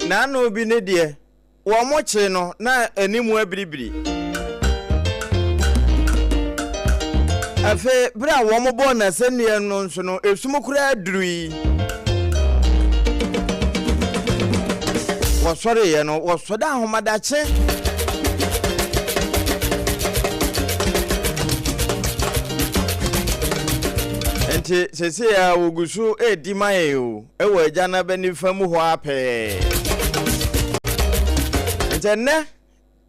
N'ano bi ne deɛ, wɔkyee no na anim abiribiri. Afei, berɛ a wɔbɔɔ no asɛnneɛ no nso no, esum koraa durui. wɔsɔreeɛ no wɔsɔda ahomadakye nti sese a wɔgu so redi ma yɛn o ɛwɔ agya no abɛnifa mu hɔ apɛɛ nti ɛnnɛ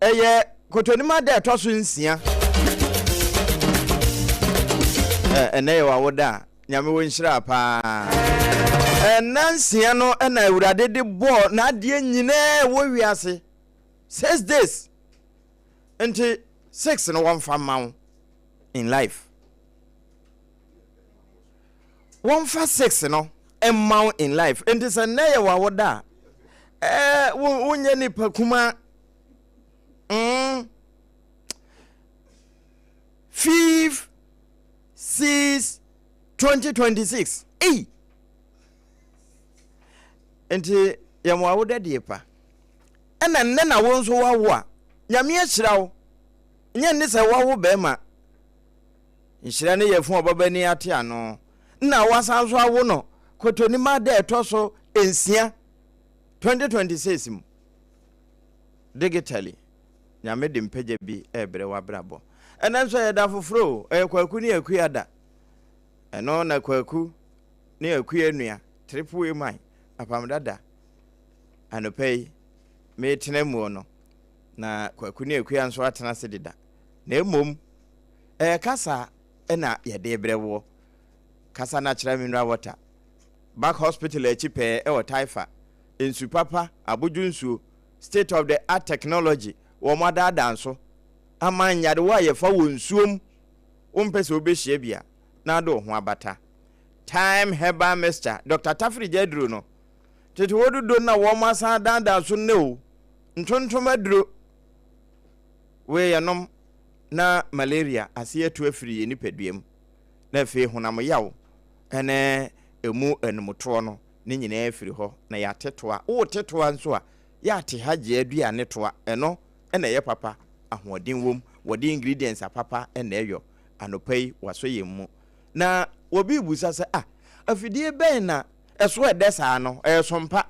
Ɛyɛ Kɔtɔnim ada a ɛtɔ so nsia. Ɛ, ɛnnɛ yɛ w'awoda a, Nyame wo nhyira paa. Ɛnna nsia no na Awurade de bɔɔ n'adeɛ nyinaa a ɛwɔ wiase. Six days. Nti, six no wɔmfa mma wo in life. Wɔmfa six no mma wo in life. Nti sɛ nnɛ yɛ w'awoda a, ɛɛ, wo, wonyɛ nipa kumaa. mm five six twenty twenty six ei nti yɛn mo awoda die pa ɛna nnɛ na wo nso wawo a nyame ahyira wo nyɛ ne sɛ wawo bɛrima nhyira ne yɛ fun ɔbaba ni ate ano na wasan nso awo no kɔtɔnima dɛ ɛtɔ so nsia twenty twenty six mu digitally Nyame de mpagya bi rebrɛ w'abrabɔ. Ɛnɛ nso ɛyɛ da foforɔ o, ɛyɛ Kwaku ne Akua da. Ɛno na Kwaku ne Akua nua, Triple A Man, Apam Dada, anɔpa yi metena muo no, na Kwaku ne Akua nso atena ase deda. Na mmom, ɛyɛ kasa na yɛde rebrɛ woɔ. Kasa Natural Mineral Water, Back Hospital akyi pɛɛ wɔ Taifa. nsu papa, abodwo nsuo, state of the art technology, wɔn adaadaa nso ama nyadewa a yɛfa wɔ nsuo mu, wo mpɛ sɛ wo bɛ hyia bi a na ade wo ho abata. Time herbal mixture, Doctor Tafiri gya aduro no, tete hɔ dodo na wɔn asan adaadaa so nnɛ o, ntontom aduro wei yɛ nom na malaria ase atu afiri yɛn nipadua mu na afei honam yaw ɛne ɛmu anumutoɔ no ne nyinaa afiri hɔ na yɛate toa. Worete toa nso a, yɛ ate hajj aduane toa. Ɛno na ɛyɛ papa, ahoɔden wom, wɔde ingredients apapa na ɛyɔ. Anɔpa yi wɔasɔ yɛn mu. Na obi rebisa sɛ, ah, afidie bɛn na ɛso ɛdɛ saa no? Ɛyɛ Sompa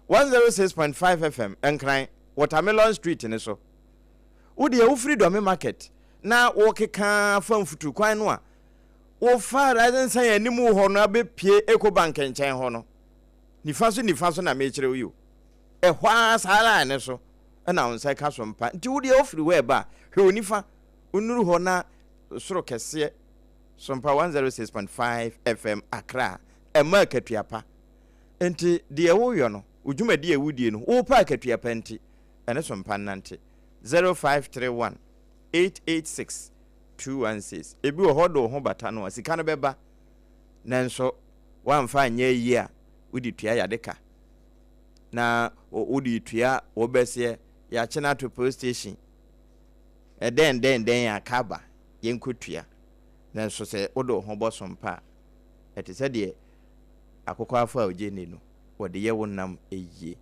106.5 FM, Nkran, Watermelon Street no so. Wo deɛ wofiri Dɔme Market na worekeka fa mfutukwan no a, Wofaa Rising Sun anim wɔ hɔ no abɛpue Ecobank nkyɛn hɔ no, nifa so nifa so na mekyerɛ wo yi o. Ɛhɔ ara saa line no so na wo nsa ka so mpa. Nti wo deɛ wofiri hɔ ɛba a, hwɛ wo nifa, wonuru hɔ na soro kɛseɛ Sompa 106.5 FM Accra ɛma akatua pa. Nti deɛ woyɔ no, wo dwumadie a ɛwodie no, wopɛ akatua pa nti, ɛne Sompa nnante. 0531 886 Two one six, Ebi wɔ hɔ ɔde wo ho bata no a, sika no bɛba, nanso woamfa anyɛ ayi a, wode tua yade ka, na wode retua wo bɛseɛ, yɛakye no ato police station, ɛdɛn dɛn dɛn a, ka aba, yɛnkɔtua. Nanso sɛ wode wo ho bɔ sompa a, ɛte sɛ deɛ akokwaafo a ɔgye nni no, wɔde yɛ wo nam yie.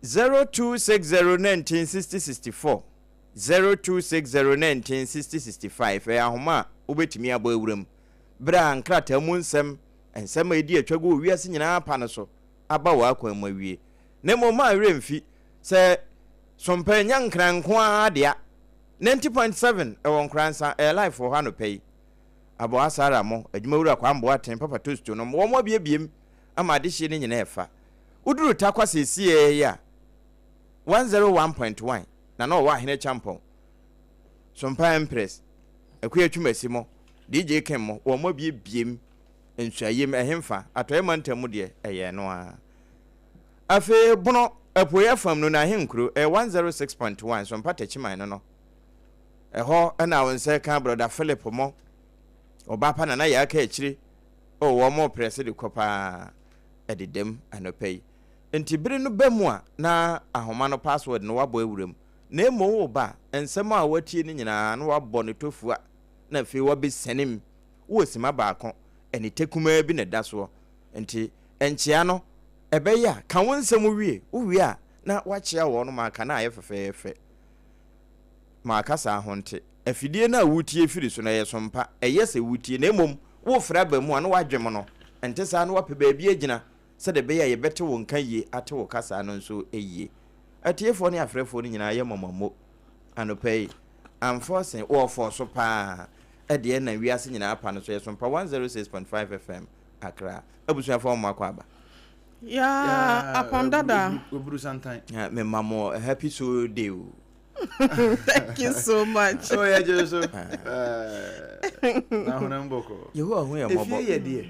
Zero two six zero nineteen sixty sixty four, Zero two six zero nineteen sixty sixty five ɛyɛ ahoma a wobɛtumi abɔ awura mu berɛ a nkrataa mu nsɛm, nsɛm a ɛdi atwa gu wɔ wiase nyinaa pa no so, aba w'akwan mu awie. Na mmom mma wo werɛ mfi sɛ Sompɛ nyɛ Nkran nko ara dea. Ninety point seven ɛwɔ Nkoransa, ɛyɛ live wɔ hɔ anɔpa yi. Aboa Sarah mo, Adwumawura Kwame Boateng, Papa Tosto nom, wɔn abiebiem ama adehyeɛ no nyinaa ɛfa. Woduru Tarkwa seesei ara yi a, one zero one point one. na na ɔwɔ Ahene Champɔn, Sompa Empress, Akua Atwumasi mo, DJ King mo, wɔn abiebiem, Nsuayem, ɛhemfa, Atɔeɛ Mantam mu deɛ, ɛyɛ ɛno ara. Afei Bono, Apueɛ afam no, na Ahenkuro, ɛyɛ 106.1, Sompa Takyiman no no, ɛhɔ na wo nsa ka Brɔda Philip mo, Ɔbaapa Nana Yaa Kaakyire, oh wɔn reprɛse de kɔ paa, ɛdedam anɔpa yi. Enti bere no ba mu a na ahoma no password no wabɔ awura mu, na mmom wo ba a, nsɛm a watie no nyinaa na wabɔ no tofua na afei wabesiane mu wɔ simma baako anite kumaa bi na ɛda soɔ. Enti nkyea no ɛbɛyɛ a, ka wo nsɛm wie, wo wie a na wakyea wɔn no ma aka na ayɛ fɛfɛɛfɛ ma aka saa ho nte. Afidie no a wotie firi so no ɛyɛ sompa, ɛyɛ sɛ wotie na mmom wofrɛ aba mu a na wadwem no, ɛnte saa na wapɛ baabi agyina sɛdeɛ ɛbɛyɛ a yɛbɛte wo nka yie, ate wo kasa no nso yie. Atiefoɔ ne afrɛfoɔ no nyinaa yɛ mmɔmammo anɔpa yi. Anfɔɔse, wɔfɔɔso pa ara. Ɛdeɛ ɛnam wiase nyinaa apa no so. Yɛso mpa 106.5 FM Accra. Abusuafoɔ mo akɔ aba. Yaa apam dada. Oburu santan. Ah, me ma mo a happy soul day o. Thank you so much. Oh, yeah, Jesus. Ah. Eh, na honam bɔkɔ. Yehowa hu yɛ mmɔbɔ. Efie yɛ deɛ.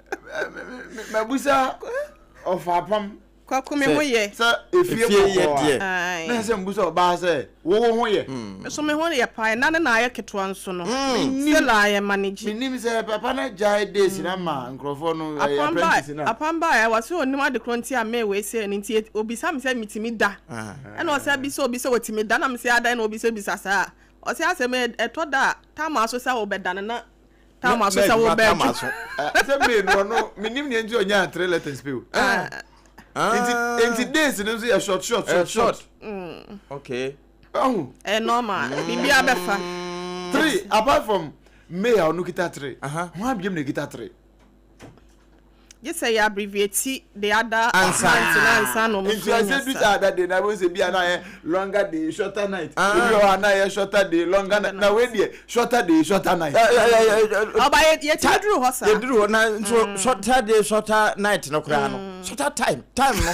mabusa ɔfaapam kwaku me ho yɛ sɛ efie yɛ deɛ na ɛsɛ mbusa ɔbaa sɛ wowo ho yɛ hmm. so me ho yɛ paa ɛna ne na ayɛ ketewa nso no hmm. sɛ la ayɛ manage menim sɛ papa no agyae days na ma hmm. nkurɔfoɔ no apprentice no apam ba ɛwɔ sɛ ɔnim ade korɔ nti a mɛ wei sɛ no nti obisa me sɛ metumi da ah. ɛna ɔsɛ bi sɛ obi sɛ ɔtumi da na me sɛ adan na obi sɛ bisa saa ɔsɛ asɛm ɛtɔ da a tamaa so sɛ wobɛda no na Tama so sɛ wo bɛɛ twa. Sɛ May no ɔno menim nea nti ɔnyaa three letters pe o. Nti nti days no nso yɛ short short short short. Mm. Okay. Ɛho. Ɛ normal. Bibi abɛfa. Three apart from May a ɔno kita three. Ho abiem na kita three. Gye sɛ yɛ abbreviate the other month no ansa na wɔn nso anya sa. Saturday de na wɔn sɛ bi a na yɛ longer day shorter night. Ebi wɔ hɔ a na yɛ shorter day longer night. Na wei deɛ shorter day shorter night. Ɔba yɛ yɛ ti duru hɔ saa. Yɛ duru hɔ na nso shorter day shorter night no koraa no shorter time time no.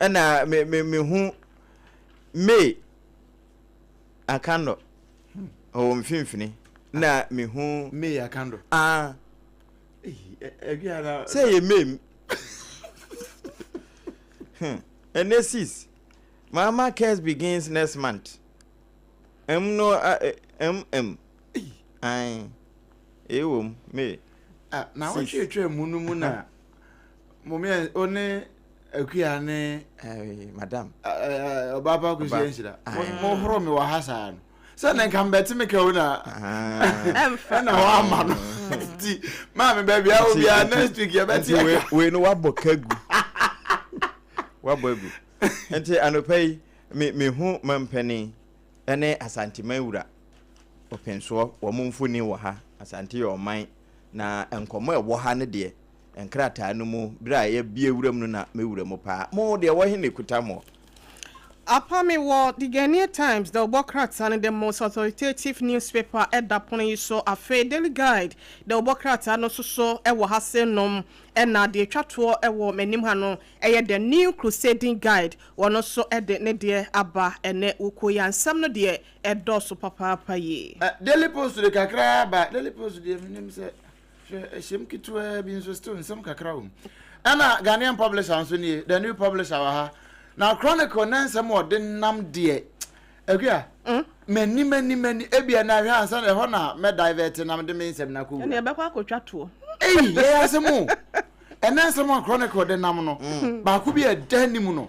ɛna me me me hu May Akandɔ ɔwɔ hmm. mfimfini na ah. me hu May Akandɔ ah sɛ yɛ May hmm. ɛnɛ sis mama cares begins next month ɛm no ɛm ɛm ɛn ɛwɔ mu May ah, na wɔtwetwe mu no mu na mo mmiɛn o ne akuya ne ɛɛ madam ɛɛ ɔbaa pa kusi nhyira mo horo mi wɔ ha saa no sɛ ne nka mbɛte mi kɛw na ɛna hɔ ama no nti maame baabi awo bi a next week yɛ bɛte ɛka wei no wabɔ kagu wabɔ agu nti anɔpɛ yi mi mi hu mampanin ɛne asanteman wura ɔpɛnsoɔ wɔn mfoni wɔ ha asante yɛ ɔman. Na nkɔmmɔ a ɛwɔ ha no deɛ, nkrataa no mu, berɛ a yɛabue wuram no na mewura mu paa. Mo deɛ, ɛwɔ he na ɛkuta moɔ? Apa, mewɔ The Ghanaian Times, The Obɔ Krataa no, the most authoritative newspaper, ɛda pono yi so. Afei Daily Guide, The Obɔ Krataa no nso so wɔ ha se nom. Ɛna deɛ ɛtwa toɔ wɔ m'anim ha no yɛ The New Crusading Guide, wɔno nso de ne deɛ aba ɛnnɛ. Wukuo yi a, nsɛm no deɛ ɛdɔɔso papaapa yie. Daily post de kakra ara ba daily post deɛ menim sɛ hwɛ ɛhyɛm ketewaa bi nso still nsɛm kakra wɔ mu ɛna Ghanaian publisher nso nie the new publisher wɔ ha na chronicle na nsɛm wɔ de nam deɛ akua mani mani mani ebia na ahwɛ ansa na ɛhɔ na mɛ divert nam de me nsɛm na kɔ wura ɛna ɛbɛkɔ akɔtwa toɔ eyi yɛ asɛm o ɛna nsɛm wɔ chronicle de nam no baako bi a ɛda anim no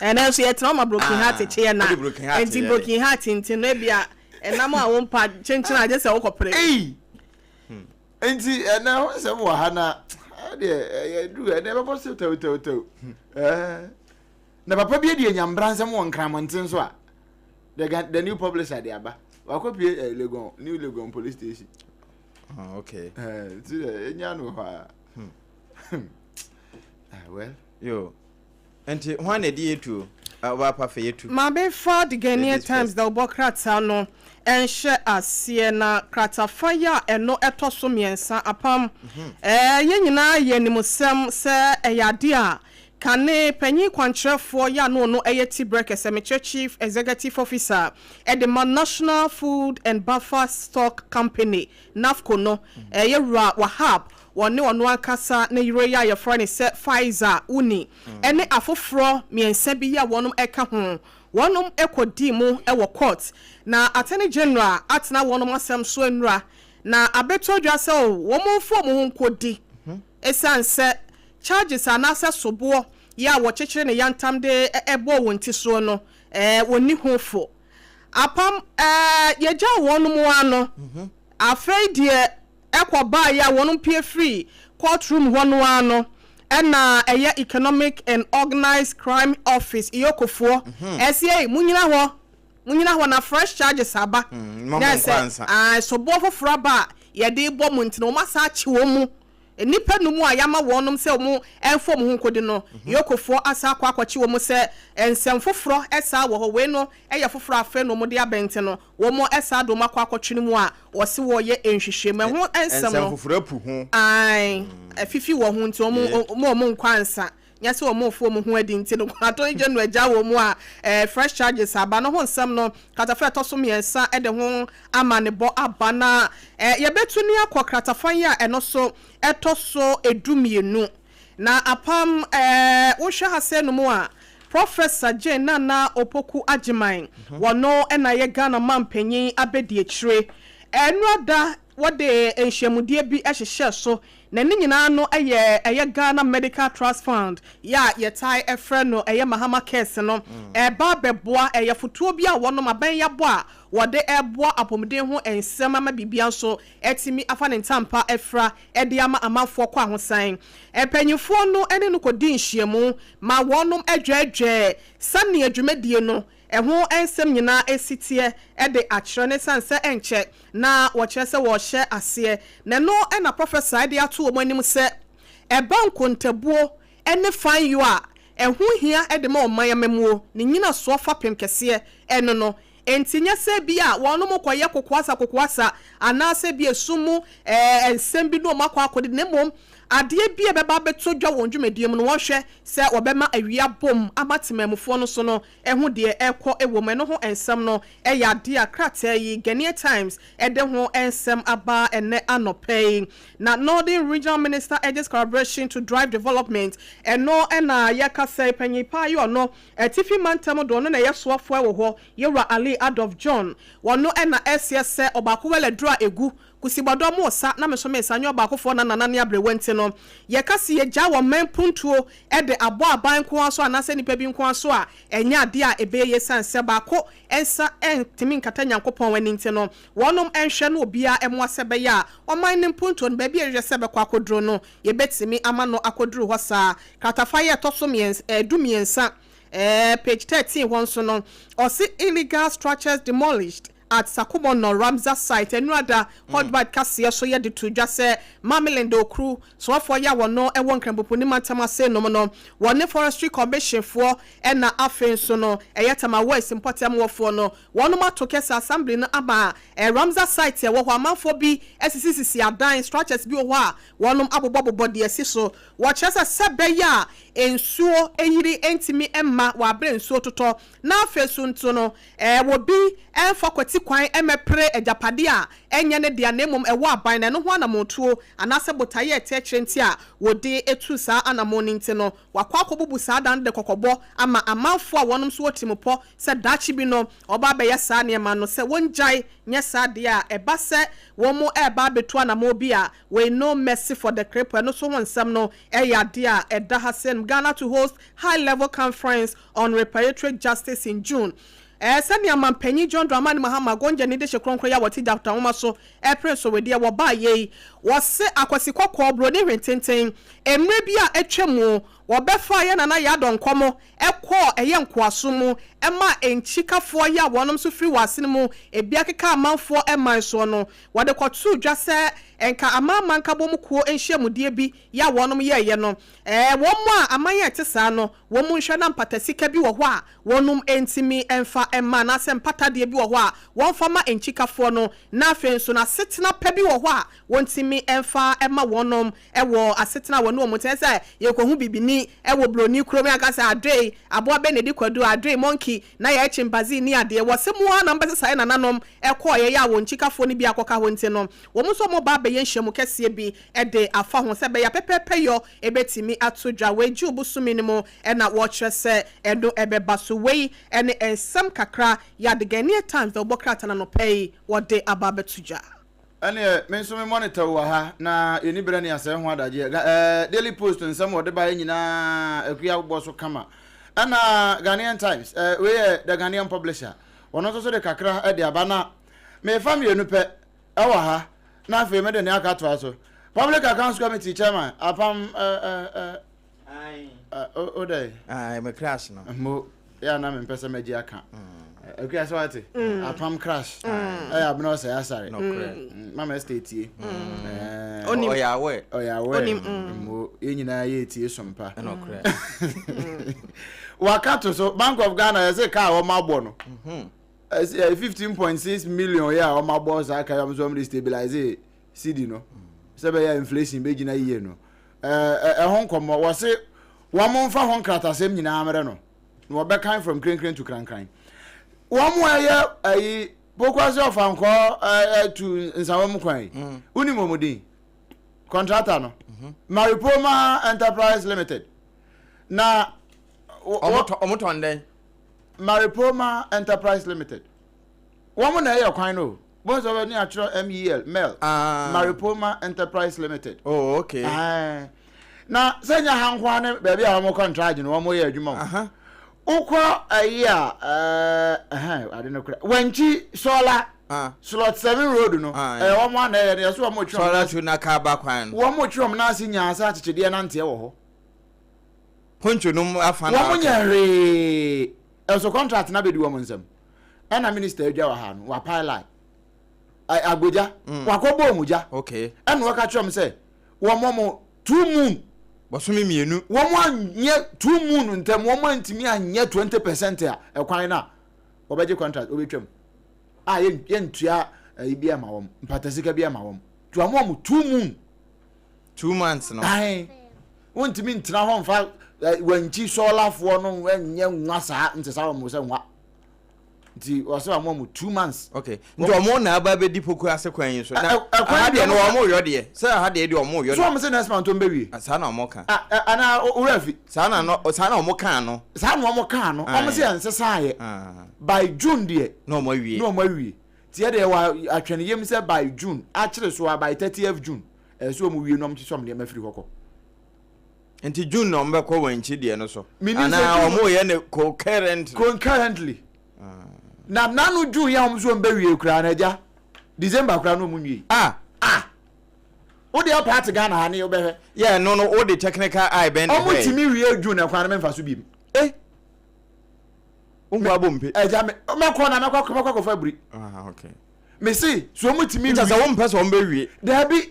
ɛnɛ nso yɛtena ɔma broken heart ah, kyeɛ na nti broken heart nti no ebi a ɛnam a wompa kyenkyen agye sɛ wokɔpere hmm. nti ɛnɛ ho nsɛm wɔ ha na ɛdeɛ ɛyɛ duru ɛnɛ ɛbɛbɔ so tɛwtɛwtɛw hmm. eh. na papa bi adi anyambra nsɛm wɔ nkramɔnten so a the, the new publisher de aba wakɔpie uh, eh, legon new legon police station oh, okay. uh, nti ɛnya no hɔ a hmm. Ah, well, yo. Nti, hwan na ɛdi yɛtu o? Ah, ɔbaa pa fɛ yɛtu. Maame fa The Ghanaian Times dawubɔ krataa no nhyɛ aseɛ na kratafa yi a ɛno tɔ so mmiɛnsa apam. Eh, yɛn nyinaa yɛ nim sɛm sɛ ɛyɛ adeɛ a kane panyin kwankyerɛfoɔ yi a na ɔno yɛ ti berɛ kɛsɛ, mekyerɛ Chief Executive Officer, de ma National Food and Buffer Stock Company, NAFCO, no, yɛwura Wahab wɔne ɔno ankasa ne yere yi a wɔfrɛ no sɛ Faiza Uni ne afoforɔ mmiɛnsa bi yi a wɔka ho, wɔkɔdii mu wɔ kɔɔt, na Attorney General atena wɔn asɛm so anura, na abɛtɔ dwa sɛ wɔmfa wɔn ho nkɔdi ɛsiane sɛ charges anaasɛ soboɔ yi a wɔkyekyere no yantam de bɔɔ wɔn ti soɔ no, wɔnni ho fo. Apam, yɛgyaa wɔn ara no. Afei deɛ. kɔ baeɛ a wɔn pue firi court room hɔ no ara no na ɛyɛ economic and organised crime office Iyokofoɔ ɛse ei mo nyina hɔ mo nyina hɔ na fresh charges aba na sɛ ae soboɔ foforɔ aba a yɛde bɔ mo nti na wɔn asan akye wɔn mu nnipa num a yɛama wɔn nom sɛ wɔn mfa wɔn ho nkɔdi no Iyokofoɔ asan akɔ akɔkye wɔn sɛ nsɛm foforɔ saa wɔ hɔ wei no yɛ foforɔ afei na wɔn de abɛnten no. Wɔn ɛsaa de wɔn akɔ akɔtwene mu a wɔse wɔyɛ nhwehwɛ mu ɛho nsɛm no ae afifi wɔn ho nti wɔn mma wɔn nkɔ ansa nyɛ se wɔn refo wɔn ho adi nti no Attorney General agya wɔn mu a fresh charges aba no ho nsɛm no kratafa a ɛtɔso mmiɛnsa de ho amanebɔ aba na yɛbɛtu ne akɔ kratafa yi a ɛno so ɛtɔso du mmienu Na apam ɛɛ wohwɛ asɛɛ no mu a Professor Jane Nana Opoku Agyeman wɔno na yɛ Ghana manpanyin abɛdiakyire ɛɛ nnura da wɔde nhyiamudeɛ bi hyehyɛɛ so na ne nyinaa no yɛ ɛyɛ Ghana Medical Trust Fund yɛ a yɛtae ɛfrɛ no ɛyɛ Mahama Cares no ɛɛba abɛboa ɛyɛ afotuo bi a wɔnom abɛn yɛabɔ a wɔde ɛɛboa apomuden ho nsɛm ama biribiara nso atumi afa ne ntampa afira de ama amanfoɔ kwahosan. Mpanimfoɔ no ne no kɔdii nhyiamu ma wɔnom dwɛɛdwɛɛ sɛnea dwumadie no ho nsɛm nyinaa si teɛ de akyerɛ no ɛsiane sɛ ɛnkyɛ na wɔkyerɛ sɛ wɔrehyɛ aseɛ na ɛno na Professor de ato wɔn anim sɛ ɛba nkontabuo ne fanyɔ a ɛho hia de ma ɔman amammuo ne nyinasoɔ fapem kɛseɛ no no Enti nyɛ sɛ ebia wɔnom kɔyɛ kokoasa kokoasa anaasɛ ebia esum mu nsɛm bi na wɔn akɔ akɔdidi na mmom adeɛ bi a ɛbɛba abɛtɔ dwa wɔ wɔn dwumadie mu no wɔnhwɛ sɛ wɔbɛma awie abom ama temanmufoɔ no so no ho deɛ ɛrekɔ wɔ mu. Ɛno ho nsɛm no yɛ adeɛ a krataa yi, Ghanaian Times, de ho nsɛm aba ɛnnɛ anɔpa yi. Na Northern Regional Minister urges collaboration to drive development, ɛno na yɛkasa yi, Panyin Paa yɛ ɔno. Atifi mantam do no na yɛ soafoɛ wɔ hɔ yɛ Wura Ali Adolf John. Wɔ no na ɛseɛ sɛ ɔbaako wɛlɛ duro a egu kusi bɔdɔ mo sa na me nso me sa nyɛ ɔbaako foɔ na nana ne abrewa nti no yɛ ka se yɛ gya wɔ man puntuo de abɔ aban nko ara so anaasɛ nipa bi nko ara so a ɛnyɛ adeɛ a ɛbɛyɛ yie sane sɛ baako nsa ntumi nkata Nyankopɔn ani nti no wɔnom nhwɛ na obiara mmoa sɛ ɛbɛyɛ a ɔman no mpuntuo no baabi a yɛ hwehwɛ sɛ ɛbɛkɔ akɔ duro no Yɛbɛtumi ama no akɔduru hɔ saa. Kratafa yi a ɛtɔ so mmiɛns ɛɛ du mmiɛnsa ɛɛ page thirteen hɔ nso no, ɔse illegal structures demolished at Sakumo Nor Ramsar site Anuada Hodbite kaseɛ so yɛde too dwa sɛ Mamilende Okru soafoɔ yi a wɔno wɔ Nkrɛmpopuni mantam ase nom no wɔne Forestry Commission foɔ ɛna afei nso no ɛyɛ Tamawais mpɔtam wɔfoɔ no wɔnom ato kɛse Assembly no ama Ramsar site a ɛwɔ hɔ, amanfoɔ bi asisisisi adan, structures, bi wɔ hɔ a wɔnom abobɔbobɔ deɛ ɛsi so. Wɔkyerɛ sɛ sɛ ɛbɛyɛ a nsuo ayiri ntumi mma wɔ aberɛ a nsuo totɔ. Na afei so nso no wɔ bi mfa kwati kwan mmɛpere agyapadeɛ a ɛnyɛ ne dea na mmom ɛwɔ aban na ɛno ho anammɔntuo anaasɛ botaeɛ a ɛte akyire nti a wɔde tu saa anammɔn no nti no wɔakɔ akɔbubu saa adan no de kɔkɔbɔ ama amanfoɔ a wɔnom nso wɔ tirimupɔ sɛ daakye bi no Wɔba bɛyɛ saa nneɛma no sɛ wɔngyae nyɛ saa deɛ a, ɛba sɛ wɔn reba abɛtu anamɔn bi a, wei no mercy for the cripple, ɛno nso ho nsɛm no yɛ adeɛ a ɛda ha sɛnm Ghana to host high level conference on reparatory justice in June eh, sɛdeɛ Manpanyin John Dramani Mahama Gonja ne dehye kronkron yi a wɔte Gyata Nwoma so repere nso wedeɛ wɔbaeɛ yi, wɔse akwasi kɔkɔɔ, buroni hwententen, mmerɛ bi a atwam Wɔbɛfaa yɛn nana Yadon nkɔmɔ kɔɔ ɛyɛ nkoasom mu maa enkyikafoɔ yɛ a wɔnom nso firi wɔ asene mu ebia keka amanfoɔ man soɔ no. Wɔde kɔtoo dwa sɛ nka Amanaman Nkabom mu kuo nhyiamudeɛ bi yɛ a wɔnom yɛɛyɛ no. Ɛɛ wɔn a aman a ɛte saa no wɔn mu nhwɛ na mpata sika bi wɔ hɔ a wɔnom ntumi mfa mma anaasɛ mpata adeɛ bi wɔ hɔ a wɔmfa mma enkyikafoɔ no na afei nso na asetena pa bi wɔ hɔ a wɔntumi mfa mma wɔnom. wɔ asetena a wɔne wɔn te. Ɛsɛ sɛ yɛkɔhu bibini wɔ buroni kurom, yɛaka sɛ, Adoe, aboa bɛn na ɛdi kwadu? Adoe, monkey, na yɛyɛ chimpanzee nni adeɛ. Wɔ sɛ mu ara na wɔbɛsesa yɛn nananom kɔeɛ yɛ a wɔn kyikafoɔ no bi akɔka hɔ nti no, wɔn nso wɔba abɛyɛ nhyiamu kɛseɛ bi de afa ho sɛ ɛbɛyɛ a pɛpɛɛpɛyɔ bɛtumi ato dwa. Wei June bosome no mu na wɔkyerɛ sɛ ɛno bɛba. So wei ne nsɛm kakra Yadiganiya Times na wɔbɔ krataa no anɔpa yi wɔde aba abɛto dwa? Ɛneɛ me nso me monitor wɔ ha na yɛni berɛ nea sɛɛ ho adagyeɛ. Ga ɛɛ Daily Post nsɛm a wɔde baeɛ nyinaa Akua bɔ so kama. Ɛna Ghanaian Times ɛɛ wei yɛ The Ghanaian Publisher wɔn nso so de kakra de aba na mefa mmienu pɛ ɛwɔ ha na afei mede nea aka atoa so. Public Accounts Committee Chairman Apam ɛɛ ɛɛ me crash no mo yɛ na mempɛ sɛ magye aka akura sɛ wate apam crash ɛyɛ abena ɔsɛ asare mama ɛsɛ tie ɔyɛ awɛ ɔyɛ awɛ mo yɛn nyinaa yɛ tie sompa waka to so bank of ghana yɛsɛ kaa wɔn abɔ no fifteen point six million yɛ a wɔn abɔ saa kaa wɔn so wɔn de stabilize cd no sɛ bɛyɛ inflation bɛgyina yie no Ɛɛ, ɛho nkɔmmɔ. Wɔse wɔmfa ho nkratasɛm nyinaa mmrɛ no, na wɔbɛkan from krenkren to krankran. Wɔn a ɛyɛ ayi Pokuase Ɔfankɔɔ tu nsawa mu kwan yi, mm. wonim wɔn din? Kɔntrata no, mhm. Maripoma Enterprise Limited. Na wɔtɔn dɛn? Maripoma Enterprise Limited. wɔn na ɛyɛ kwan no o bɔn sɛ ɔbɛni atwerɛ MEL MEL Maripoma Enterprise Limited oh okay ɛɛ na sɛ nyɛ ha nko ara ne baabi a wɔn kɔntraagye no wɔn yɛ adwuma o wokɔ ɛyi a ɛɛ ɛhɛn ade no kora wankyi sɔɔla slot seven road no ɛyɛ wɔn a na ɛyɛ no yɛ so wɔn twɛ wɔn ase sɔɔla na kaa ba kwan no wɔn twɛ wɔn ase nyaa sɛ akyekyedeɛ nanteɛ wɔ hɔ hontwo nom afa na wɔn nyɛ hwee ɛso kɔntraagye na bɛ di wɔn nsam. ɛna minister adwa wɔ ha no wapae line agbogya mm. wakɔbɔ ɔmu gya ɛna wɔka kyerɛ m sɛ wɔmmɔ mo two moon bɔsome mmienu wɔn anyɛ two moon ntɛm wɔn antumi anyɛ twenty percent a ɛkwan no a wɔbɛgye contract wɔbɛtwam a yɛntua ɛyi bi ama wɔn mpatasika bi ama wɔn nti wɔn a wɔn two moon two months no ae wɔntumi ntena hɔ mfa wankyi sɔɔlafoɔ no nyɛ nwa saa nte saa wɔn sɛ nwa nti wɔsɛ wɔn mu two months. okay nti wɔn na aba abɛdi poku ase kwan yi so na aha deɛ no wɔn yɔ deɛ sɛ aha deɛ deɛ wɔn yɔ deɛ. so wɔn sɛ next month wɔn bɛ wie. Ah, saa na wɔn ka. Ah, eh, ana owura fi. saa na no saa na wɔn kan no. saa na wɔn kan no wɔn sɛ yɛn sesa yɛ ah. by june deɛ. na wɔn awie. na wɔn awie tiɛ deɛ wa atwɛn yam sɛ by june akyere so a by thirtieth june ɛsɛ wɔn wie na wɔn kyekyɛ wɔn nneɛma firi hɔ kɔ. Nti June na wɔn bɛkɔ wɔn akyi deɛ no so. Mini sɛ June. Anaa wɔn yɛ no concurrently. Concurrently. Ah. Na nanu June yɛ wɔn nso wɔn bɛ wie koraa na ɛgya December koraa na wɔn nwie. Ah. Ah. O deɛ paati Ghana ha ne o bɛhwɛ. Yɛ no no o de technical eye bɛn na ɛhwɛ. Wɔn ti mi wie June na kwan na mi nfa so bi mu. Eh. O hu abo mpe. Ɛgya mi mɛ kɔ na mɛ kɔ mɛ kɔ kɔ fa biri. Ah okay. Mesi so wɔn ti mi wie. Nkyɛn sɛ wɔn mpɛ sɛ wɔn bɛ wie. Dɛbi.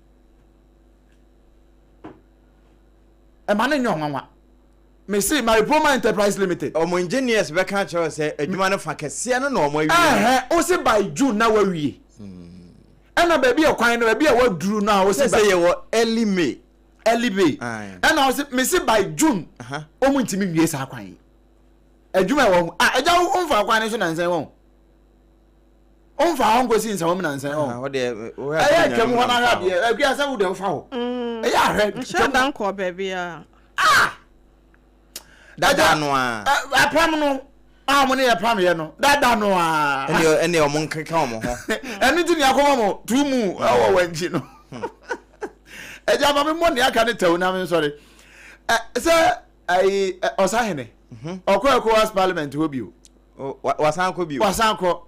ɛma no nyɛ ɔnwanwa mese maripoma enterprise limited. wɔn engineers bɛka akyerɛ wo sɛ adwuma no fa kɛseɛ no na wɔn awie. ɛhɛ wo se by june na wawie ɛna hmm. baabi a kwan no baabi a waduru no a wo se sɛ yɛwɔ early may early may ɛna wo se mese by june wɔn ntumi nwie saa kwan yi adwuma ɛwɔ ho a ɛgya wo nfa kwan no so nansan wɔn. ɔmfa hɔ nkosi nsɛmam nansa ɔ ɛyɛ twam hɔ no ahwɛ adeɛ akua sɛ wo deɛ wofa hɔ ɛyɛ ahwɛ nhyɛ da nkɔ baabiara ah dada no a apam no a wɔn ne yɛ pam yɛ no dada no a ɛne ɛne wɔn nkeka wɔn ho ɛno ti ne akɔma mo tu mu ɛwɔ wɔn akyi no ɛgya ma me mmɔ ne aka ne tɛw na me nsɔre sɛ ayi ɔsahene ɔkɔ ecowas parliament hɔ bio wasan kɔ bio wasan kɔ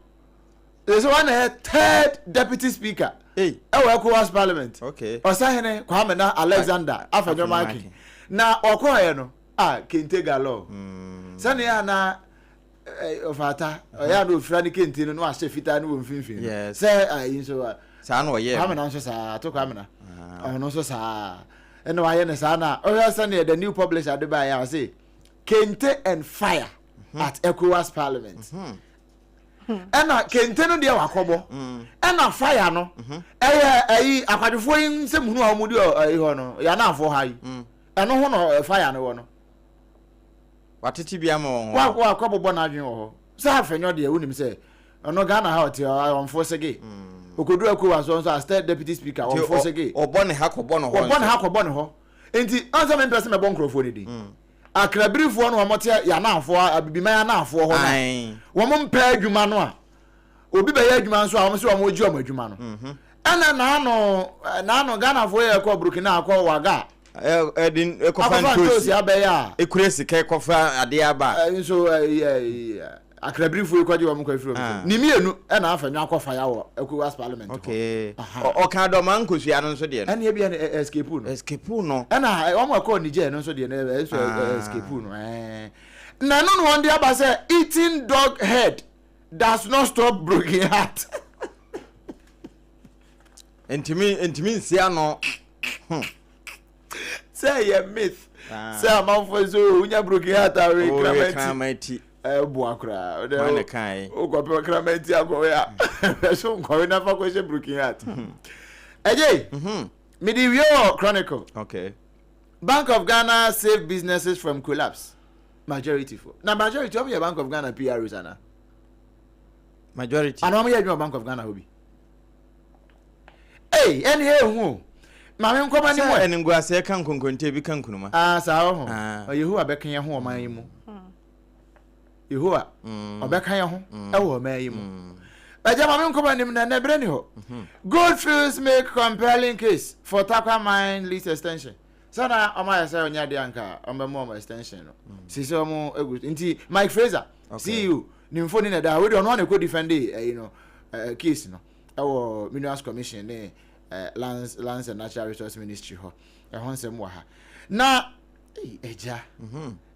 yɛ sɛ wana yɛ third deputy speaker ɛwɔ ecowas parliament ɔsahene kwame na alexander afanyɔma ake na ɔkɔɔyɛ no a kente galore hmm. sɛnea na ɔfata ɔyɛ a na ofira ne kente no na wahyɛ fitaa no wɔ mfimfini no Yes. sɛ ayi nso a saa na ɔyɛɛ kwamena nso saa ato kwamena Ah. ɔno nso saa ɛna wayɛ ne saa na ɔhwɛ sɛdeɛ the new publisher de baeɛ a ɔse kente and fire at ecowas parliament ɛna kente no deɛ wakɔbɔ ɛna fire no ɛyɛ ayi akwadwofoɔ yi nsɛm hunu a wɔde ɔ- ayi hɔ no yɛanafoɔ ha yi ɛno ho na ɔ- fire no wɔ no Watete bi ama wɔn hɔ. Wa wa kɔ bobɔ n'adwene wɔ hɔ. Sɛ afɛnyɔ deɛ wonim sɛ ɔno Ghana ha ɔte ɔ ɔnfo sege. Mm. Okodu Ekowa so nso as third deputy speaker Nti ɔnfo ɔ sege. ɔbɔ ne ha kɔbɔ ne hɔ Wɔbɔ ne nso. ha kɔbɔ ne hɔ. Nti ɔn sɛ mempɛ sɛ mɛbɔ nkorɔfoɔ no din. Mm. Akrabirifoɔ no wɔn te yɛn anaafoɔ a Abibiman anaafoɔ hɔ no a Ae. wɔn mpɛ adwuma no a obi bɛyɛ adwuma nso a wɔn sɛ wɔn regye wɔn adwuma no mhm. ɛna naano naano ghanafoɔ yɛ ɛkɔ burkina akɔ waga ɛde ɛkɔfa ntoosi abɛyɛ a ekura sika ɛkɔfa adeɛ aba nso ɛyɛ akrabirifo yi kɔgye wɔn kɔ efiri wɔn ah. ne mmienu ɛna afa nwa akɔ faya wɔ ECOWAS parliament hɔ okay ɔka dɔm ankosua no nso deɛ no ɛna ebi ɛna escape no escape no ɛna wɔn ɛkɔ Niger no nso deɛ no ɛnso escape no ɛɛ na ɛno na wɔn de aba sɛ eating dog head. does not stop broken heart. Ntumi ntumi nsi ano. Hmm. Sɛ yɛ myth. Ah. Sɛ amanfoɔ sɛ o oh, wonya broken heart a wɔyɛ oh, kraman ti. Ɛboa koraa. Wɔn na kan yi. O kɔpɛ kraman ti akɔwe a. Ɛso nkɔwe nafa kɔhyɛ broken heart. Hmm. Ɛgye. Mhm. Mede wie wɔ chronicle. Okay. Bank of Ghana saved businesses from collapse. Majority fo. Na majority wɔn yɛ Bank of Ghana PROs ana? Majority. Ana wɔn yɛ adwuma Bank of Ghana hɔ bi? Ee, ɛne yɛ ehu o. Maame nkɔma ne. Sɛ ɛne nguaseɛ ka nkonkonte bi ka nkunuma. Aa saa wɔ ho. Ah. Yehowa bɛka yɛn ho ɔman yi mu. Hmm. Yehowa hmm. ɔbɛka yɛn ho hmm. ɛwɔ ɔman yi mu. Ɛgya maame nkɔma nim na ɛnɛ bere ni hɔ. Mhm. Goldfields make compelling case for Takwa mine lease extension. sɛ na ɔmo ayɛ sɛ ɔnyɛ adeɛ anka ɔmo bɛ mu ɔmo extension no mm. sisi ɔmo egu nti Mike Fraser CEO ne mfoni na ɛda hɔ wei ɔno ana ɛkɔ defend ɛyi no ɛɛ case no ɛwɔ minerals commission ne ɛɛ lands lands and natural resource ministry hɔ ɛho nsɛm wɔ ha na ɛgya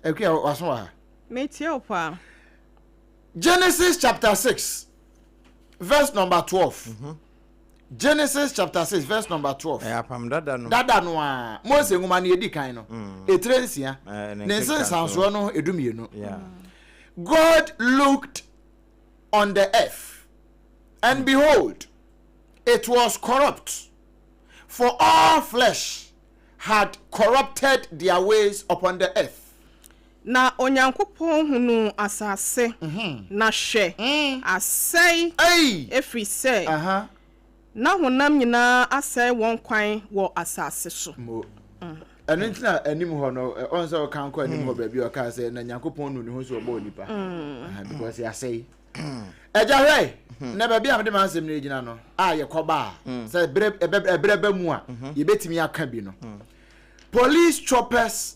ɛkua waso wɔ ha. metie o paa. genesis chapter six verse number twelve. Mm -hmm. Genesis chapter six verse number twelve. Ɛyɛ apam dada no. Dada no a Mose nwoma no yɛdi kan no. Mm. Etire nsia. Eh, ne nsensansoɔ no edu mmienu. God looked on the earth and mm. behold it was corrupt for all flesh had corrupted their ways upon the earth. Na Onyankopɔn hunuu asase, na hwɛ! asɛe, ɛfiri sɛ na honam nyinaa asɛe wɔn kwan wɔ asase so. Ɛno nti na anim hɔ no, ɔn sɛ ɔka nkɔ anim hɔ baabi a ɔkaa sɛ na Nyankopɔn nu ne ho so ɔbɔɔ nipa. Because yɛasɛe. Agya hwɛ, na baabi a mede m'asɛm no gyina no a yɛkɔba a, sɛ ɛberɛ ba mu a, yɛbɛtumi aka bi no. Police choppers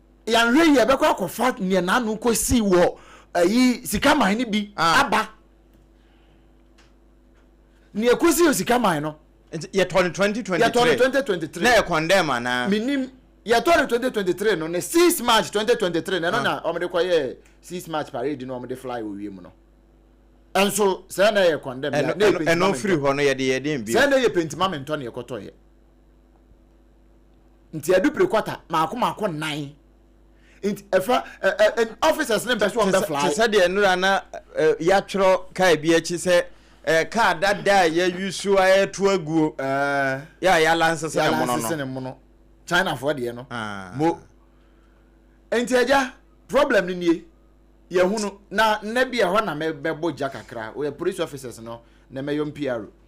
yɛanhwɛ yie ɛbɛkɔ akɔfa nea n'ano kɔsii wɔ ayi sika man no bi ah. aba nea kɔsii wɔ sika man no yɛtɔ no 2023 na ɛkɔndɛm anaa menim yɛtɔ no 2023 no na 6 march 2023 na ɛno ah. na wɔde kɔyɛ 6 march parade no wɔde fly wɔ wiem no ɛnso sɛ na yɛ kɔndɛm ɛno firi hɔ no yɛde yɛde bi sɛ na yɛ pentima mentɔ na yɛkɔtɔeɛ nti ɛdu pere kwata maako maako nnan nti ɛfa ɛ ɛ officers ne bɛso ɔbɛ fly. te sɛ deɛ nnura na ɛ yɛatwerɛ kaa bi akyi sɛ ɛ kaa dada a yɛayusu a yɛto aguo yɛ a yɛalansese ne mono no yɛalansese ne mono chinafoɔ deɛ no mo nti agya problem no nie yɛhunu na nnɛ bi ɛhɔ na mɛbɔ gya kakra wɔyɛ police officers no na mɛyɔ mpiaro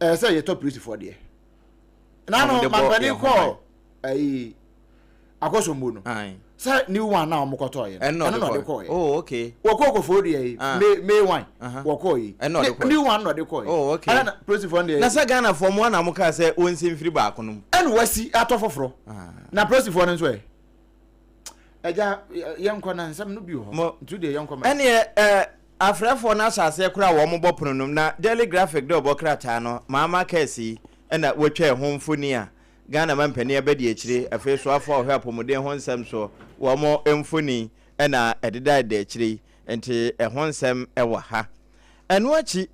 ɛɛ sɛ yɛtɔ polisifoɔ deɛ na no mampanin kɔɔ ayi akɔsombo no sɛ new one na wɔn kɔtɔɔ yɛ ɛno na ɔde kɔɔ yɛ oh okay wɔkɔɔ kɔfɔɔ deɛ yi ah. may may one wɔkɔɔ yi new one na ɔde kɔɔ yɛ oh okay ɛna polisifoɔ no deɛ na sɛ ghana fɔ mu ana wɔn kaa sɛ wɔn nsi mfiri baako no mu ɛna wɔasi atɔ foforɔ ah. na polisifoɔ no nso yɛ ɛgya yɛn kɔ na nsɛm no bi wɔ hɔ ntu deɛ yɛn kɔ ma ɛneɛ ɛɛ. Afrɛfoɔ no ahyɛaseɛ koraa wɔ wɔn bɔ pono no mu na Daily Graphic de ɔbɔ krataa no maa Marques yi na wɔtwaa ho mfoni a Ghana mampanin abadiakyire afei soafoɔ a ɔhwɛ apɔmuden ho nsɛm soɔ wɔn mfoni na ɛdedadeda akyire yi nti ɛho nsɛm wɔ ha. Ɛno akyi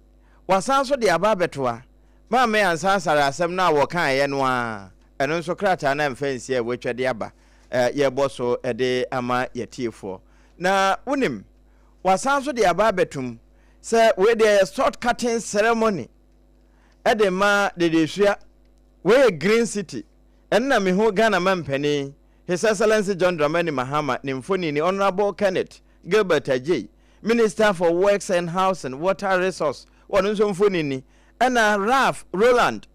wɔasan nso de aba abɛtoa Maame Ansah Asare asɛm no a wɔkaeɛ no ara ɛno nso krataa no amfa ansi a wɔatwa de aba yɛrebɔ so de ama yɛatiefoɔ na wonim wɔasan nso de aba abɛto mu sɛ wei deɛ yɛ salt cutting ceremony de ma Dedesua. Wei yɛ Green City. Ɛno na mehu Ghana Mampanin, His Excellency John Dramani Mahama, ne mfonini, Honourable Kenneth Gilbert Adjei, Minister for Works and Housing, Water Resource, wɔn nso mfonini, ɛna Ralph Roland,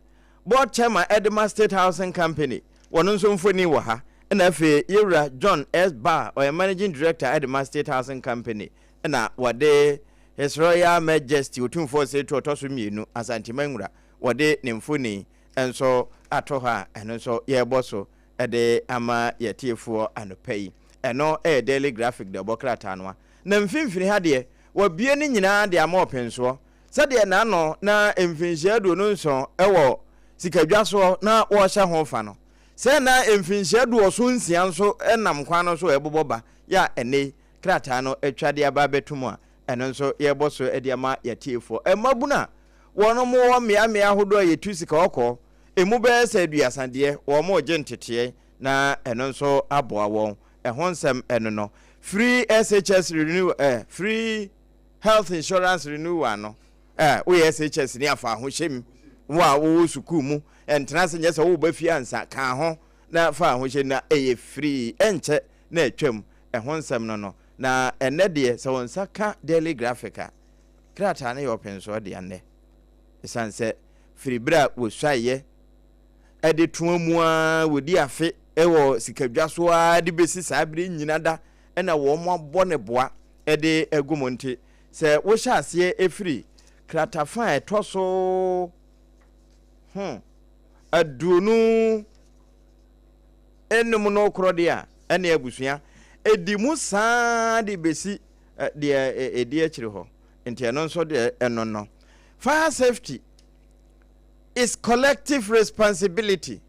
Board Chairman de ma State Housing Company, wɔn nso mfoni wɔ ha, ɛna afei Yewura John S. Barr, ɔyɛ Managing Director de ma State Housing Company, ɛna wɔde His Royal Majesty Otumfoɔ Oseretu Ɔtɔso Mmienu Asante Manwura, wɔde ne mfoni nso ato hɔ a ɛno nso yɛrebɔ so de ama yɛatiefoɔ anɔpa yi. Ɛno yɛ Daily Graphic deɛ ɔbɔ krataa no a na mfimfini ha deɛ wɔabue ne nyinaa de ama ɔpensoɔ, sɛdeɛ na ano na mfinhyia aduonu nson wɔ sikadwa soɔ na wɔhyɛ ho fa no, sɛɛ na mfinhyia aduɔson nsia nso nam kwan no so ɛrebobɔ ba, yɛ a ɛnnɛ yi krataa no atwa de aba abɛto mu a ɛno nso yɛrebɔ so de ama yɛatiefoɔ. Mmabunu a wɔn wɔ mmeammea ahodoɔ a yɛtu sika ɔkɔɔ, ɛmu bɛyɛ sɛ aduasa deɛ, wɔn regye nteteɛ na ɛno nso aboa wɔn. Ɛho nsɛm ɛno no firi SHS Renew eh, firi. Health Insurance Renewal no, ɛ, woyɛ SHS ni a, fa ahohyem. Wo a wowɔ sukuu mu, ɛntena ase nyɛ sɛ woreba fie ansa, ka ho na fa ahohyem. Na ɛyɛ firii, ɛnkyɛ na atwam. Ɛho nsɛm no no. Na ɛnnɛ deɛ, sɛ wo nsa ka Daily Graphic a, krataa no yɛ ɔpensoɔ dea nnɛ. Ɛsiane sɛ firi berɛ a wɔsuaeɛ de to amu ara wɔdi afe wɔ sikadwa so ara de bɛsi saa berɛ nyina da na wɔabɔ ne boa de agu mu nti, sɛ wohyɛ aseɛ firi kratafa a ɛtɔ so ho aduonu nnum no korɔ deɛ a, ɛne abusua ɛdi mu saa de bɛsi deɛ ɛdi akyiri hɔ. Nti ɛno nso deɛ ɛno no. Fire safety is collective responsibility.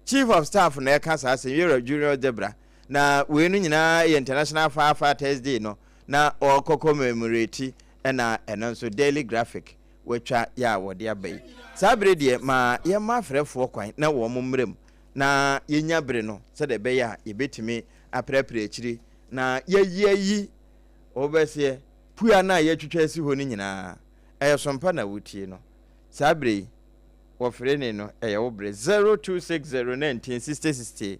Chief of Staff na ɛka saa asɛm, Yerah Junior Dzebra, Na weinom nyinaa yɛ International Fire Fighters Day no na wɔkɔ kɔmɛmoreti ɛna ɛno nso Daily Graphic watwa yɛ a wɔde aba yi. Saa bere deɛ ma yɛmma afrɛfoɔ kwan na wɔn mmra mu na yɛnya bere no sɛdeɛ ɛbɛyɛ a yɛbɛtumi apereapere akyiri na yɛayi ayi wɔbɛseɛ pua no a yɛatwitwa asi hɔ no nyinaa. Ɛyɛ sompa na wotie no saa bere yi wɔfere ne no ɛyɛ wo bere 0260 19 60 60.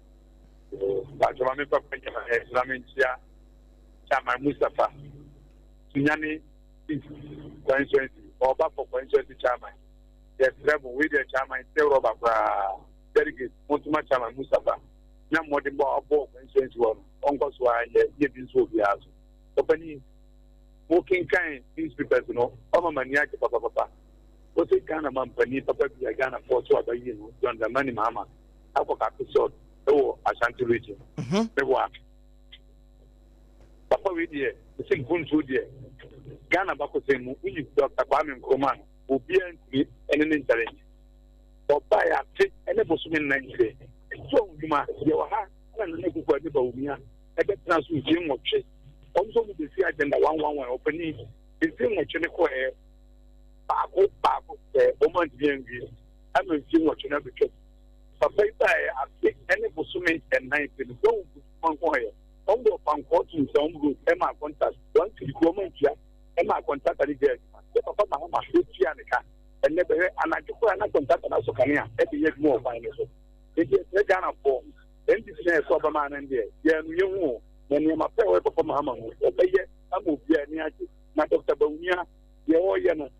Bàtò ma mi nkɔ fɛ nyɛma ɛ ma mi nkyia Chairman Mustapha Sunyani Constituency ɔba fɔ Constituency Chairman yɛ srɛ mo wei deɛ Chairman sɛ rɔba koraa delegate mo ntoma Chairman Mustapha nya mmɔden bɔ abɔ Constituency wɔ no ɔnkɔ so ara nyɛ yɛ bi nso obiara so ɔpani mo kenkan newspapers no ɔma ma ni agye papapapa wɔsɛ Ghana ma mpani papa bi a Ghana fɔ so aba yie no John Dramani Mahama akɔ kakosɔt ɛwɔ ashanti region mhm. ne wa papa wei deɛ ɛsɛ mpuntuo deɛ ghana bakɔsɛn mu woyi dɔkta kwame nkroma no obiara ntumi ɛne ne nkyɛre nyɛ ɔba yɛ ate ɛne bosome nna nkyerɛ ɛsɛ ɔdwuma yɛwɔ ha na nana akufo ade ba omia ɛbɛtena so mfie nwɔtwe ɔm sɛ ɔmu bɛsi agenda wanwanwan ɔpani mfie nwɔtwe ne kɔɛ baako baako sɛ ɔma ntumi anwie ama mfe nwɔtwe no abetwam. Papa yi bae afe ne bosome nnan pɛ no, Gwawu mpofirim ankohɔyɛ. Wɔn bɔɔ pankɔɔ too nsawam road maa kɔntat, wɔn tiri kurom antua maa kɔntrata no gyaa adwuma. Sɛ Papa Mahama hwɛ tua ne ka ɛnnɛ bɛ hwɛ, anadwo koraa na kɔntrata no asɔ kanea de yɛ adwuma wɔ kwan no so. Enti ɛsrɛ Ghanafoɔ, NDC na yɛsɔ aba maa no ndeɛ, yɛanu yɛn ho o, na nneɛma pa a ɛwɔ yɛ Papa Mahama ho, ɔbɛyɛ ama obiara ani agye. Na Dɔkta Bawumia, deɛ ɔreyɛ no,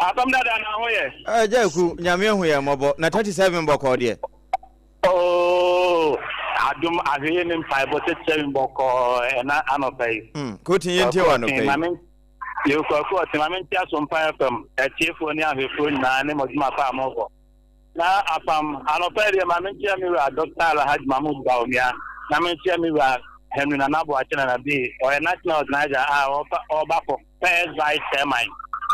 Asɛm dada na ho yɛ. Ɛɛ gya eku nyame ehu yɛ mmɔbɔ na thirty seven bɔkɔɔ deɛ. Ooo adum ahweye ne mpaebɔ thirty seven bɔkɔɔ ɛna anɔpa yi. Hmm kotin yɛ ntie wɔ anɔpa yi. Yɛ kwaku ɔtin maame nti aso mpa fm ɛtiefoɔ ne ahwɛfoɔ nyinaa ne mɔdwuma pa a mɔbɔ na apam anɔpa yi deɛ maame nti ami wura Dr. Alhaji Mahmoud Bawumia na me nti ami wura Henry Nana Boakye Nana Bee ɔyɛ national organizer a ɔba kɔ. First Vice Chairman,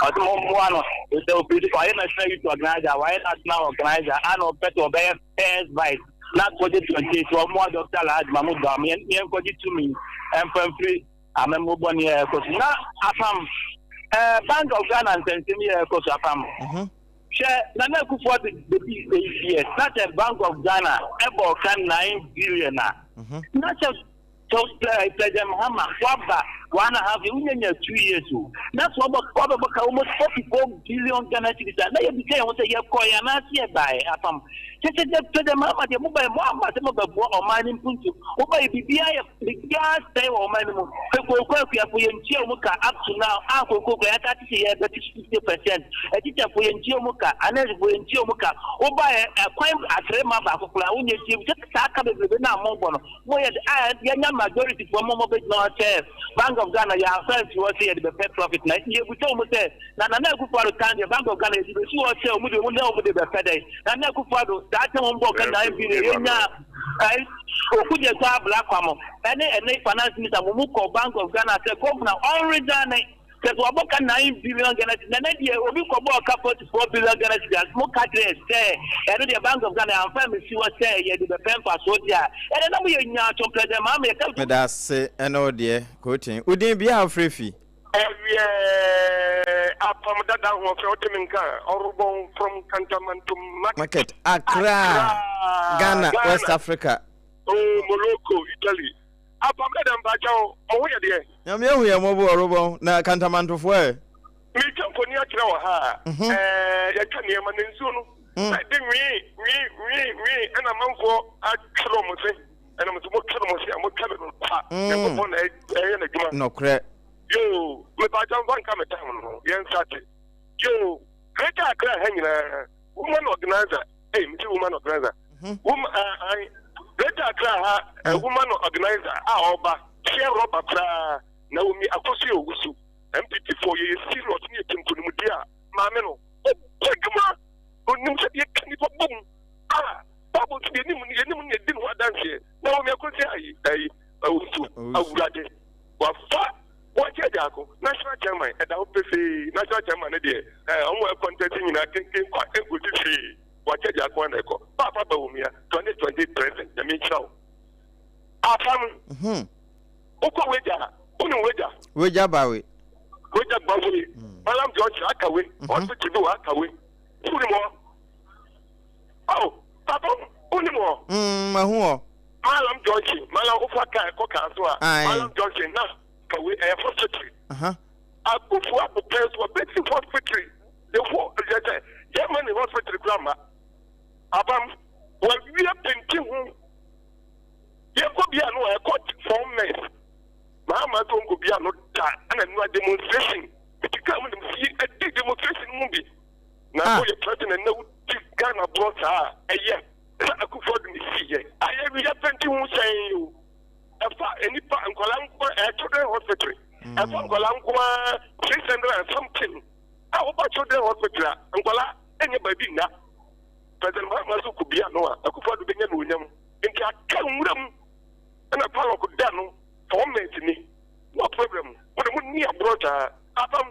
ɔsɛ mo mmoa no sɛ ɔpɛ sɛ ɔyɛ National Youth Organizer, wayɛ National Organizer, ana ɔpɛ sɛ ɔbɛyɛ First Vice na 2028 sɛ ɔmmoa Dr. Alhaji Mahmoud Bawa ma yɛnkɔgye tumi mfa mfiri amammuo bɔne a ɛrekɔ so na apam eh, Bank of Ghana nsɛnsɛm yi a ɛrekɔ so apam mhm. hwɛ Nana Akufo-Addo bɛdi eight years na sɛ Bank of Ghana ɛbɔ ɔka nine billion a mhm. na sɛ So sɛ dɛm hama wɔaba one and half year wonya nya two years o na so wɔbɔ wɔbɛbɔ ka almost forty four billion Ghana cedis a na yɛbisa yɛn ho sɛ yɛkɔe anaase yɛbaeɛ apam kyɛ sɛ dɛ sɛ dɛm hama deɛ mobaeɛ moamma sɛ mobɛboa ɔman no mpuntu mobaeɛ biribiara yɛ biribiara sɛe wɔ ɔman no mu sɛ kooko akuafo yɛntua wɔn ka up to now a kooko kura yɛaka te sɛ yɛbɛte so fifty percent atikyafoɔ yɛntua wɔn ka anɛsfoɔ yɛntua wɔn ka wobaeɛ ɛkwan atere ma baako koraa wonyɛ tie bi sɛ saa ka bebrebe no a mobɔ no Mo yɛ de ah yɛnya majority foɔ mo mo bɛ gyina hɔ sɛ bank of Ghana yɛ ansa nsi hɔ sɛ yɛde bɛ pɛ profit na yɛ busa ɔmo sɛ na Nana Akufo Addo tan deɛ bank of Ghana yɛde bɛ si hɔ sɛ ɔmo deɛ ɔmo nɛ ɔmo de bɛ pɛ dɛn Nana Akufo Addo saa kyɛ wɔn bɔ ka nyan bi na yɛ nya ɛn oku deɛ saa abla kwa mo ɛne ɛne finance minister mo mo kɔ bank of Ghana sɛ governor ɔn resign Kyerɛ sɛ wabɔ ka nine billion Ghana cedis. Nana deɛ obi kɔbɔɔ ka forty four billion Ghana cedis a moka kyerɛ sɛ ɛno deɛ Bank of Ghana amfa ammesi hɔ sɛ yɛde bɛpɛ mfasoɔ deɛ a, ɛnneɛ na moyɛ nyaa to President Mahama yɛka. Medase ɛne wo deɛ Kotin. Wo din bia a wofrɛ fi? Ɛyɛ apam dada ahoɔfɛwote me nka ɔrobɔn from kantamantom market. Market Accra Accra Ghana Ghana West Africa. oh Morocco Italy Apam dada mpakyɛw, mo ho yɛ deɛn? Nyame ahu yɛn mmɔbɔ o, Robɔn, na Kantamantofoɔ ɛ? Meretwa mfoni akyerɛ wo ha a, ɛɛ, yɛatwa nneɛma na nsuo no ayɛ dɛ nwii, nwii, nwii, nwii, ɛna amanfoɔ atwere wɔn se, ɛnam nso motwere mo se a motwa me no kwa, Nyankopɔn na ɛyɛ n'adwuma. Nokorɛ. Yoo, mepakyɛw mfa nka me time no, yɛnsate. Yoo, Greater Accra ha nyinaa. Woman organizer, eh, me ti woman organizer. Mhm. Wom, ah, ah, Greater Accra ha, eh, mm. woman organizer, ah, ọba, share rubber kra, Naomi Akosi Owusu, MPT for ye serious ni etim kunimu dia, maame no, ọbọ adwuma, onim sẹ yẹ kani pa bom, ah, Bible ti yẹ nimu ni yẹ nimu ni yẹ di ni ho adanseɛ, Naomi Akosi ayi, ayi, Owusu, awurade, wafa. Wɔnkyɛ biako, National Chairman, ɛda hɔ pefee. National Chairman no deɛ, eh, wɔn a ɛkɔntɛste nyinaa kenken kwa ɛnkɔsi hwee. Wɔnkyɛ biako ara na ɛkɔ. Paapa Bawumia, 2020 President, Nyame nhyira wo. Paapa no, wokɔ Wegya a, wonim Wegya? Wegya Bawe. Wegya Bawe, Malam Junction, aka wei, Hospital bi wɔ aka wei, wonim hɔ? Oh, papa wonim hɔ? Mm, mahu hɔ. Malam Junction, Malam wofa kaa ɛkɔ kaa so a, Malam Junction na ka wei ɛyɛ Fort Victory. Aha. Abufu abopɛ so a, bɛsi Fort Victory. Yɛfo yɛ sɛ, yɛ ma ne Fort Victory kura ma. Abam, wɔawie penti ho. Yɛkɔ bia no a, ɛkɔ four mess. Maa ma to nkɔ bia no da, ɛna nua demonstration. Ɛti kaa mu demonstration, ɛdi demonstration mu bi. Na ah. woyɛ president na wodi Ghana borɔ saa a, ɛyɛ sɛ Akufo Addo ne sii yɛ. Ayɛ wia penti ho sɛn o. Ɛfa nnipa nkwadaa nko eh, children hospital. Mm. Ɛfa nkwadaa nko ara six hundred and something. A ah, woba children hospital a nkwadaa ɛnyɛ baabi nna. President Mahama so kɔ bia no a Akufo Addo bɛnya no onyam. Nti aka nwura mu ɛna palɔk da no fɔmɛnti ni. Wɔ problem. Mo de mo ni aborɔ saa. Apam.